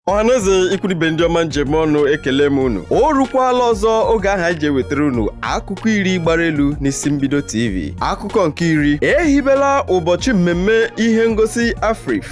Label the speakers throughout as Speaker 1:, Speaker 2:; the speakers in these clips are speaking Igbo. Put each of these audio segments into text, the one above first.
Speaker 1: ọhaneze ikwu na ibe ndị ọma m ji eme ọnụ ekele m unu o rukwala ọzọ oge ahụ anyị ji ewetara unu akụkọ iri gbara elu n'isi mbido tv akụkọ nke iri e hibela ụbọchị mmemme ihe ngosi AFRIFF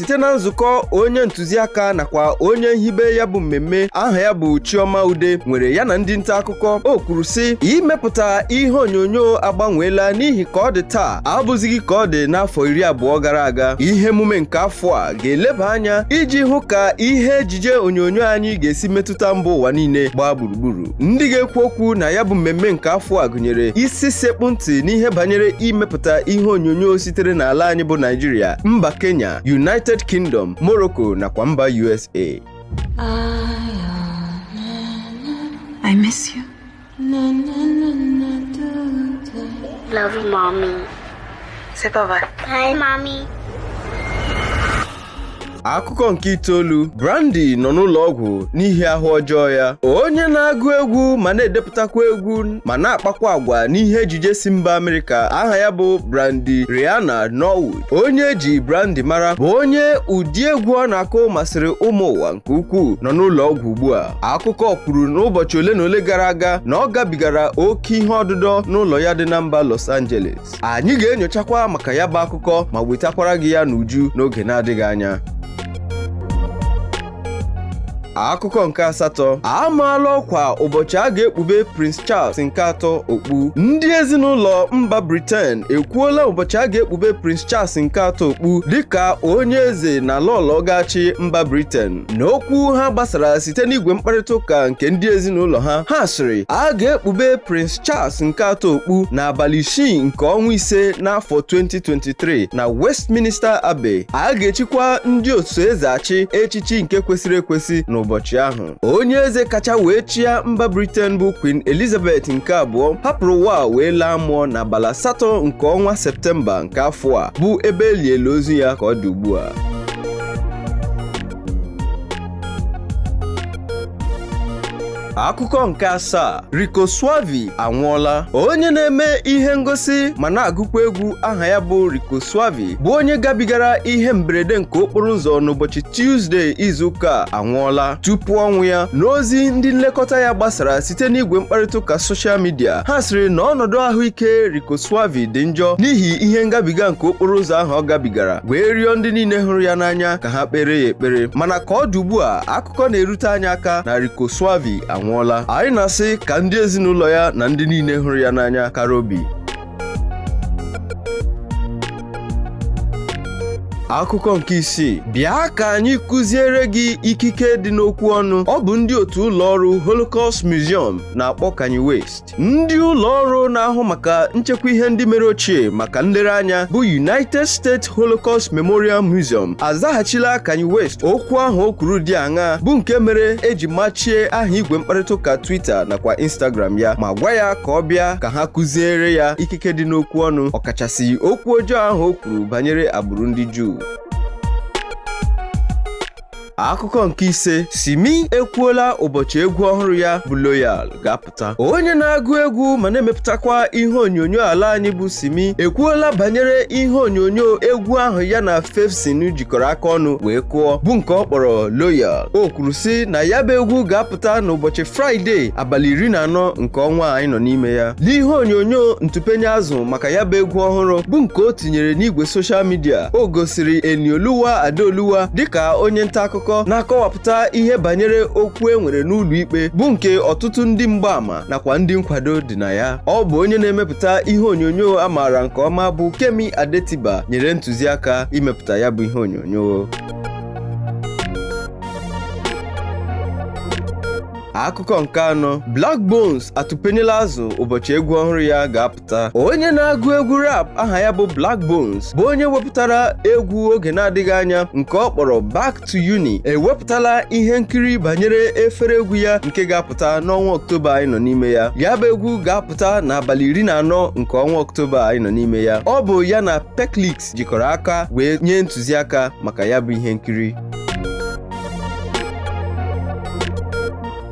Speaker 1: site na nzukọ onye ntụziaka nakwa onye nhibe ya bụ mmemme aha ya bụ Chioma Ude nwere ya na ndị nta akụkọ o kwuru sị imepụta ihe onyonyo agbanweela n'ihi ka ọ dị taa abụzighị ka ọ dị n'afọ iri abụọ gara aga ihe emume nke afọ a ga-eleba anya iji hụ ka ihe ejije onyonyo anyị ga-esi metụta mba ụwa niile gbaa gburugburu ndị ga-ekwu okwu na ya bụ mmemme nke afọ a gụnyere isi sekpụ ntị n'ihe banyere imepụta ihe onyonyo sitere n'ala anyị bụ Naịjirịa mba Kenya United Kingdom Morocco nakwa mba USA
Speaker 2: I miss you.
Speaker 3: Love you, mommy. Say bye
Speaker 2: bye. Bye,
Speaker 3: mommy.
Speaker 1: akụkọ nke itoolu Brandy nọ n'ụlọ ọgwụ n'ihi ahụ ọjọọ ya onye na-agụ egwu ma na-edepụtakwa egwu ma na-akpakwa agwa n'ihe ejije si mba Amerịka aha ya bụ Brandy Rayana Norwood onye e ji Brandy mara bụ onye ụdị egwu ọ na-akụ masịrị ụmụ ụwa nke ukwuu nọ n'ụlọ ọgwụ ugbu a akụkọ kwuru n'ụbọchị ole na ole gara aga na ọ gabigara oke ihe ọdụdọ n'ụlọ ya dị na mba Los Angeles anyị ga-enyochakwa maka ya bụ akụkọ ma wetakwara gị ya n'uju n'oge na-adịghị anya akụkọ nke asatọ a maala ọkwa ụbọchị a ga-ekpube Prince Charles nke atọ okpu ndị ezinụlọ mba Britain ekwuola ụbọchị a ga-ekpube Prince Charles nke atọ okpu dịka onye eze na lọọlọ ga-achị mba Britain n'okwu ha gbasara site n'igwe mkparịta ụka nke ndị ezinụlọ ha ha sịrị a ga-ekpube Prince Charles nke atọ okpu n'abalị isii nke ọnwa ise n'afọ 2023 na Westminster Abbey a ga-echikwa ndị oso eze achị echichi nke kwesịrị ekwesị n'ụbọchị ahụ onye eze kacha wee chịa mba Britain bụ Queen Elizabeth nke abụọ hapụrụ ụwa wee laa mmụọ n'abalị asatọ nke ọnwa Septemba nke afọ a bụ ebe e liela ozu ya ka ọ dị ugbu a Akụkọ nke asaa Rico Swavey anwụọla onye na-eme ihe ngosi ma na-agụkwa egwu aha ya bụ Rico Swavey bụ onye gabigara ihe mberede nke okporo ụzọ n'ụbọchị Tuesday izuụka a anwụọla tupu ọnwụ ya n'ozi ndị nlekọta ya gbasara site n'igwe mkparịtaụka soshal midia ha sịrị na ọnọdụ ahụike Rico Swavey dị njọ n'ihi ihe ngabiga nke okporo ụzọ ahụ ọ gabigara wee rịọ ndị niile hụrụ ya n'anya ka ha kpere ya ekpere mana ka ọ dị ugbu a akụkọ na-erute anyị aka na Rico Swavey anwụọla anyị na-asị ka ndị ezinụlọ ya na ndị niile hụrụ ya n'anya kara obi akụkọ nke isii bịa ka anyị kụziere gị ikike dị n'okwu ọnụ ọ bụ ndị otu ụlọ ọrụ Holocaust Museum na-akpọ Kanye West Ndị ụlọ ọrụ na-ahụ maka nchekwa ihe ndị mere ochie maka nlereanya bụ United States Holocaust Memorial Museum azaghachila Kanye West okwu ahụ o kwuru dị aṅa bụ nke mere e ji machie aha igwe mkparịta ụka Twitter nakwa Instagram ya ma gwa ya ka ọ bịa ka ha kụziere ya ikike dị n'okwu ọnụ ọkachasị okwu ọjọọ ahụ o kwuru banyere agbụrụ ndị Juu akụkọ nke ise simi ekwuola ụbọchị egwu ọhụrụ ya bụ loyal ga-apụta onye na-agụ egwu ma na-emepụtakwa ihe onyonyo ala anyị bụ simi ekwuola banyere ihe onyonyo egwu ahụ ya na faveszn jikọrọ aka ọnụ wee kụọ bụ nke ọ kpọrọ loyal o kwuru sị na ya bụ egwu ga-apụta n'ụbọchị fraịde abalị iri na anọ nke ọnwa anyị nọ n'ime ya n'ihe onyonyo ntụpenye azụ maka ya bụ egwu ọhụrụ bụ nke o tinyere n'igwe soshal midia o gosiri Enioluwa Adeoluwa dịka onye nta akụkọ na-akọwapụta ihe banyere okwu e nwere n'ụlọ ikpe bụ nke ọtụtụ ndị mgbaama nakwa ndị nkwado dị na ya ọ bụ onye na-emepụta ihe onyonyo a maara nke ọma bụ Kemi Adetiba nyere ntụziaka imepụta ya bụ ihe onyonyo akụkọ nke anọ Blaqbonez atụpenyela azụ ụbọchị egwu ọhụrụ ya ga-apụta onye na-agụ egwu rap aha ya bụ Blaqbonez bụ onye wepụtara egwu oge na-adịghị anya nke ọ kpọrọ Back to Uni ewepụtala ihe nkiri banyere efere egwu ya nke ga-apụta n'ọnwa Ọktoba anyị nọ n'ime ya ya bụ egwu ga-apụta n'abalị iri na anọ nke ọnwa Ọktoba anyị nọ n'ime ya ọ bụ ya na Perliks jikọrọ aka wee nye ntụziaka maka ya bụ ihe nkiri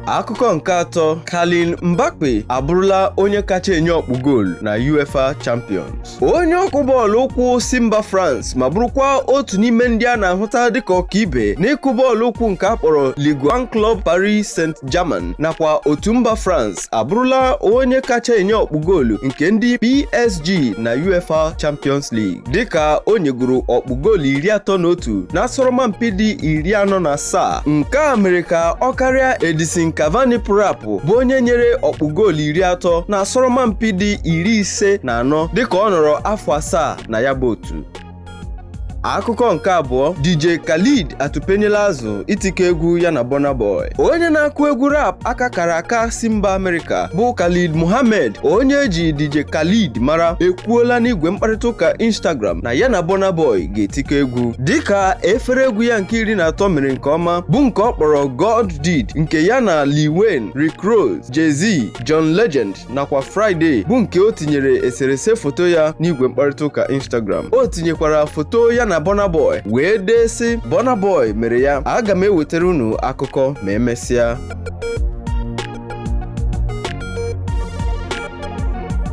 Speaker 1: Akụkọ nke atọ Kylian Mbappe abụrụla onye kacha enye ọkpụ goolu na UEFA Champions onye ọkụ bọọlụ ụkwụ si mba France ma bụrụkwa otu n'ime ndị a na-ahụta dịka ọkaibe n'ịkụ bọọlụ ụkwụ nke a kpọrọ Ligue 1 Club Paris Saint-Germain nakwa otu mba France abụrụla onye kacha enye ọkpụ goolu nke ndị PSG na UEFA Champions League dịka o nyegoro ọkpụ goolu iri atọ na otu n'asọrọmpi dị iri anọ na asaa nke a mere ka ọ karịa Edison Cavani pụrụ apụ bụ onye nyere ọkpụ goolu iri atọ n'asọrọmpi dị iri ise na anọ dịka ọ nọrọ afọ asaa na ya bụ otu akụkọ nke abụọ DJ Khaled atụpenyela azụ itikọ egwu ya na Burna Boy onye na-akụ egwu rap aka kara aka si mba Amerịka bụ Khaled Mohammed onye eji DJ Khaled mara ekwuola n'igwe mkparịta ụka Instagram na ya na Burna Boy ga-etikọ egwu dịka efere egwu ya nke iri na atọ mere nke ọma bụ nke ọ kpọrọ God Did nke ya na Lil Wayne, Rick Ross, Jay-Z, John Legend nakwa Fridayy bụ nke o tinyere eserese foto ya n'igwe mkparịta ụka Instagram o tinyekwara foto ya na Burna Boy wee dee sị Burna Boy mere ya aga m ewetara unu akụkọ ma emesịa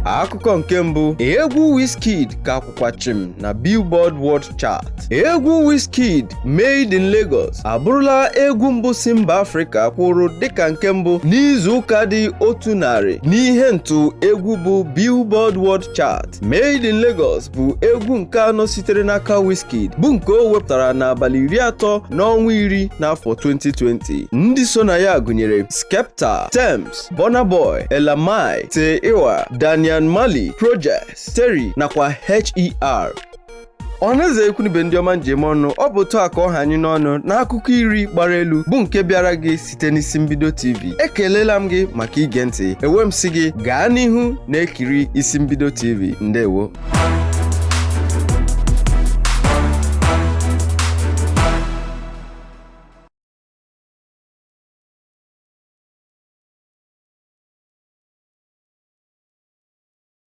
Speaker 1: akụkọ nke mbụ egwu Wizkid ka kwa chịm na Billboard World Chart. Egwu Wizkid Made in Lagos abụrụla egwu mbụ si mba Afrịka kwụrụ dịka nke mbụ n'izu ụka dị otu narị n'ihe ntụ egwu bụ Billboard World Chart. Made in Lagos bụ egwu nke anọ sitere n'aka Wizkid bụ nke o wepụtara n'abalị iri atọ n'ọnwa iri n'afọ 2020. Ndị so na ya gụnyere Skepta, Tems, Burna Boy, Ella Mai, Tay Iwar, Damian Marley, Projexx Terri nakwa H.E.R. ọhaneze ikwu na ibe ndị ọma m ji eme ọnụ ọ bụ otu a ka ọ ha anyị n'ọnụ n'akụkọ iri gbara elu bụ nke bịara gị site n'isi mbido tv ekelela m gị maka ige ntị ewe m sị gị gaa n'ihu na-ekiri isi mbido tv ndewo